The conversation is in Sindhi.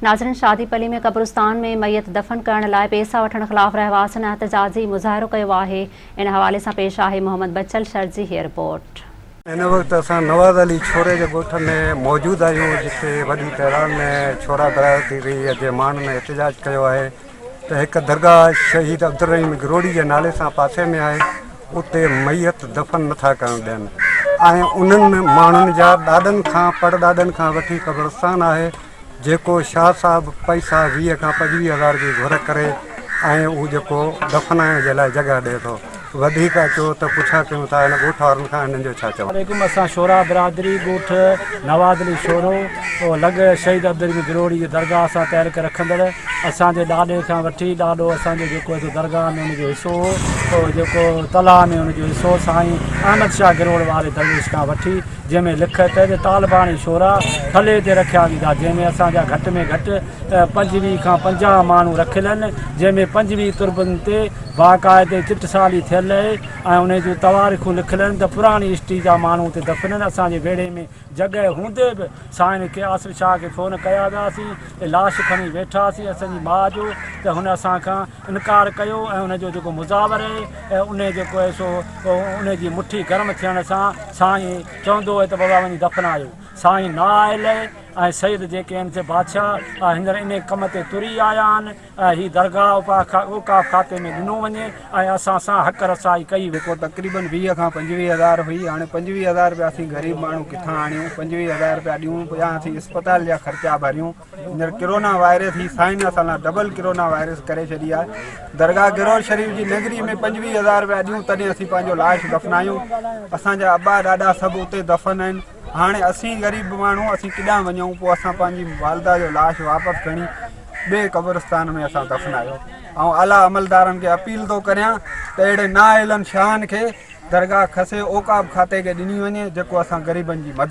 ناظرين شادي پلي ۾ قبرستان ۾ ميت دفن ڪرڻ لاء پيسا وٺڻ خلاف رهواسين احتجاجي مظاهرو ڪيو آهي ان حوالي سان پيش آهي محمد بچل شر جي هي رپورٽ. هن وقت اسان نواز علي ڇوري جي ڳوٺ ۾ موجود آهيون جتي وڏي تعداد ۾ ڇورا گهرايو ٿي وئي هي جنهن ماڻهن احتجاج ڪيو آهي ته هڪ درگاهه شهيد عبدالرحيم گروڙي جي نالي سان پاسي ۾ آهي اتي ميت دفن نٿا ڪرڻ ڏين ۽ انهن ماڻهن جا ڏاڏن کان پڙڏاڏن کان وٺي قبرستان آهي جيڪو شاهه صاحب پئسا ويهه کان پنجويهه هزار جي گهر ڪري ۽ اهو جيڪو دفنائڻ جي لاء جڳهه ڏئي ٿو. وڌيڪ اچو ته پڇا ڪيون ٿا هن ڳوٺ وارن کان هنن جو ڇا چوڻ. عليڪم اسان شورا برادري ڳوٺ نواز علي شورو او لڳ شهيد عبدالرحيم گروڙي جي درگاهه سان تعلق رکندڙ اسان جي ڏاڏي کان وٺي ڏاڏو اسان جو جيڪو هتي درگاهه ۾ ان جو حصو هو او جيڪو تلاء ۾ ان جو حصو سائين احمد شاهه گروڙ واري درويش کان وٺي جنهن ۾ لکت ۽ طالباڻي شعرا ٿلهي تي رکيا ويندا، جنهن ۾ اسان جا گهٽ ۾ گهٽ پنجويهه کان پنجاهه ماڻهو رکيل آهن، جنهن ۾ پنجويهه تربن تي باقاعدي چٽسالي ٿيل اهي ۽ انهن جون تواريخون لکيل آهن ته پراڻي اسٽي جا ماڻهو اتي دفن آهن، اسان جي ويڙهي ۾ جڳهه هوندي به سائين ڪي آصف شاهه کي فون ڪيا وياسين ۽ لاش کڻي ويٺاسين، اسان جي ماء جو ته هن اسان کان. انڪار ڪيو ۽ ان جو جيڪو مزاور اهي ان جيڪو اهي سو ان جي مٺي گرم ٿيڻ سان سائين چوندو اهي ته بابا وڃي دفنايو سائين نه آيل اهي ۽ سيد جيڪي اهن سي بادشاهه هينئر انهي ڪم تي تري آيا آهن ۽ هي درگاهه اوقاف کاتي ۾ ڏنو وڃي ۽ اسان سان حق رسائي ڪئي وڃي جيڪو تقريبن ويهه کان پنجويهه هزار هئي هاڻي پنجويهه هزار رپيا اسين غريب ماڻهو ڪٿان آڻيون پنجويهه هزار رپيا ڏيون يا اسين اسپتال جا خرچا ڀريون هينئر ڪرونا وائرس هي سائين اسان لا ڊبل ڪرونا وائرس ڪري ڇڏي آهي درگاهه گرور شريف جي نگري ۾ پنجويهه هزار رپيا ڏيون تڏهن اسين پنهنجو لاش دفنايون اسان جا ابا ڏاڏا سڀ اتي دفن آهن هاڻي اسين غريب ماڻهو اسين ڪيڏانهن وڃون پوء اسان پنهنجي والده جو لاش واپس کڻي ٻئي قبرستان ۾ اسان دفنايو ۽ اعليٰ عملدارن کي اپيل ٿو ڪريان ته اهڙي نااهلن شاهن کي درگاهه کسي اوقاف کاتي کي ڏني وڃي جيڪو اسان غريبن جي مدد